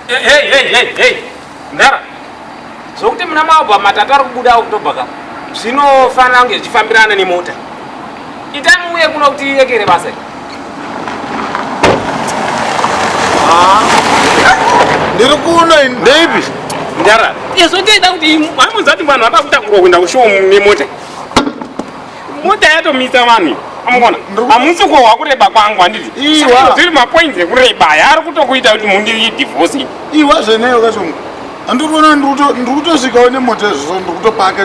Hey, hey, hey, hey. Ndara. Zvokuti muna maobva matatu ari kubuda okutobhaka zvinofanira kunge zvichifambirana nemota. Itai muuye kuno kuti irekere basa iri. Ah. Ndiri kuno ini. Ndeipi? Ndara. Izvo ndinoda kuti hamunzati vanhu vapa kutakurwa kuenda kushow nemota. mota yatomisa vanhu amukona hamusi kuhohwa kureba kwangu handiti zviri mapoints ekureba aya ari kutokuita kuti mundiri divorce iwa zveneyo kashoma andikuona ndiri kutosvikawo nemota izvozvo ndiri kutopaka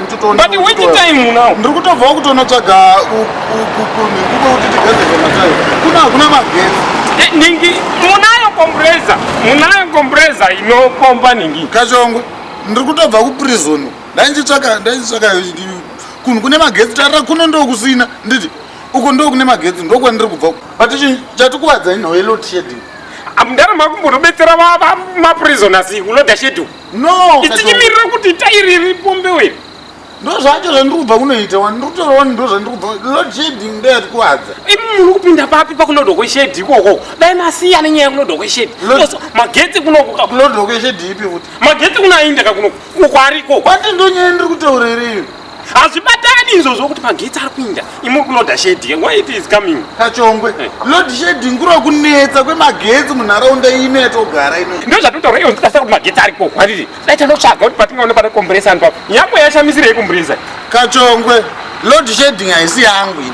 ndiri kutobvawo kutonotsvaga kuko kuti tigadzirwe matayo kuna hakuna magetsi eh, ningi munayo kombureza munayo kombureza inopomba ningi kachongwe ndiri kutobva kuprizoni ndainzitsvaka ndainzitsvaka kunhu kune magetsi tarira kuno ndokusina nditi uko ndo kune magetsi ndokwandiri kubva but chatikuvadza inhowe lot sheding amudara makumbonobetsera maprisoners kuloda sheding no tichimirira kuti tairi ripombe wei ndo zvacho zvandiri kubva kunoita wani ndiri kutora wani ndo zvandiri kubva load sheding ndo yatikuvadza imi muri kupinda papi pakuloda kweshedi ikoko dai masiya nenyaya yekuloda kweshedi magetsi kunokuloda kweshedi ipi futi magetsi kunaindaka kunoku kwariko kwati ndonyaya ndiri kutaura here iyo hazvibatani izvo zvokuti magetsi ari kuinda imuri kuloda sheding why it is coming kachongwe eh. load sheding kuri kunetsa kwemagetsi munharaunda ino yatogara ino ndo zvatotaura iyo ndikasa kuti magetsi ari ko kwariri dai tanotsvaga kuti patingaona pane komburesa anu papo nyangwe yashamisirei komburesa kachongwe load sheding haisi yangu ini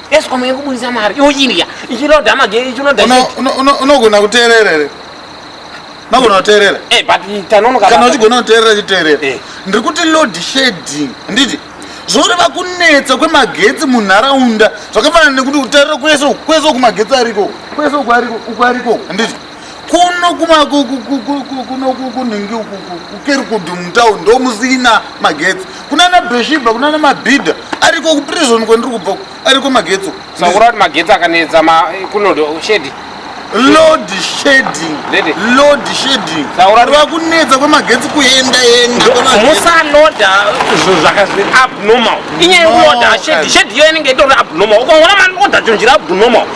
Escom yekubudisa mari yochirya ichinoda mageri ichinoda unogona kuteerera here unogona kuteerera eh, kana uchigona kuteerera chiteerera eh. ndiri kuti load shading handiti zvoreva kunetsa kwemagetsi munharaunda zvakafanana nekuti utarira kwese kwese uku magetsi ariko kwese uku ariko uku ariko handiti kuno kumakunhingi uku kukerikudu mutown ndo musina magetsi kunana bheshiba kunana mabhidha ariko kuprison kwandiri kubva ariko magetsi sakura kuti magetsi akanetsa kuno shedi load shedding load shedding rwa kunetsa kwemagetsi kuenda enda musaloda zvinhu zvakazvi abnormal inyaya yekuloda shedi shedi iyo inenge itori abnormal ukaona maloda chonjira abnormal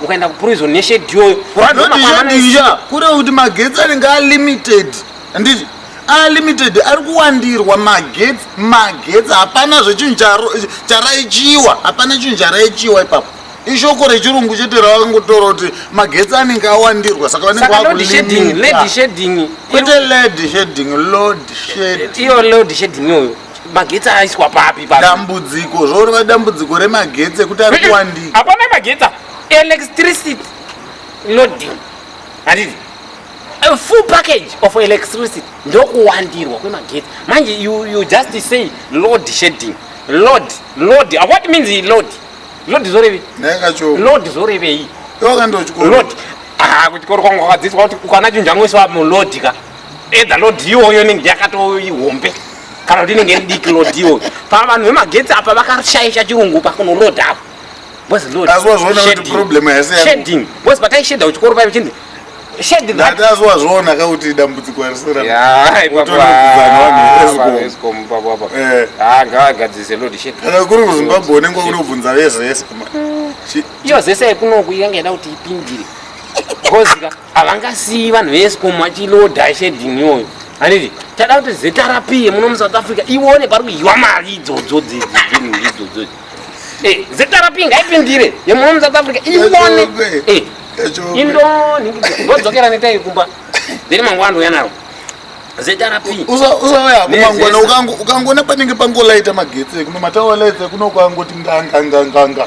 ukaenda kuprison neshedi iyoyo kuradzaaishandisha kureva kuti magetsi anenge alimited handiti alimited ari kuwandirwa magetsi magetsi hapana zvechinhu charaichiwa hapana chinhu charaichiwa ipapo ishoko rechirungu chete ravangotora kuti magetsi anenge awandirwa saka vanenge vakulimitkwete led shading lod shading iyo lod shading iyoyo magetsi aiswa papi dambudziko zvorova dambudziko remagetsi ekuti ari kuwandika hapana magetsi electricity loading handiti a full package of electricity ndokuwandirwa kwemagetsi manje you, you just say load shading load load uh, what means he load load zvorevei load zvorevei load ah, kuchikoro kwangu kwakadziswa kuti ukana chinhu changoiswa mulodi ka Eda load iyoyo inenge yakatoo ihombe kana kuti inenge idiki load iyoyo. Pa vanhu vemagetsi apa vakashaisha chirungu pakunoload apa. Boss load. That's what zvoona kuti shading. problem haisi yangu. Shading. Boss pataishedha kuchikoro paive chindi shade that. Ndati azwazvoona ka kuti dambudziko harisi ra- Yeah, ipapo, Utano hwekudzana vanhu ah, veEscom. vanhu veEscom ipapo apa. Eh. Ah, ngavagadzise load shade. kana kuri kuzimbabwe unenge wakunobvunza vezvese ma- Chi- Iyo zese yekunoku yanga yada kuti ipindire. Gozi ka. havangasiyi vanhu veescom vachiloda shedini iyoyo handiti tada kuti zrp muno musouth africa ione pari kudyiwa mari idzodzo dzidzodzo eh, zrp ngaipindire yemuno musouth africa ione eh, indoodzokeran itai kumba then mangwana ndouya naro usauya kumangwana ukangoona panenge pangolaita magetsi ekuno matawa lights ekuno kwangoti nganganganganga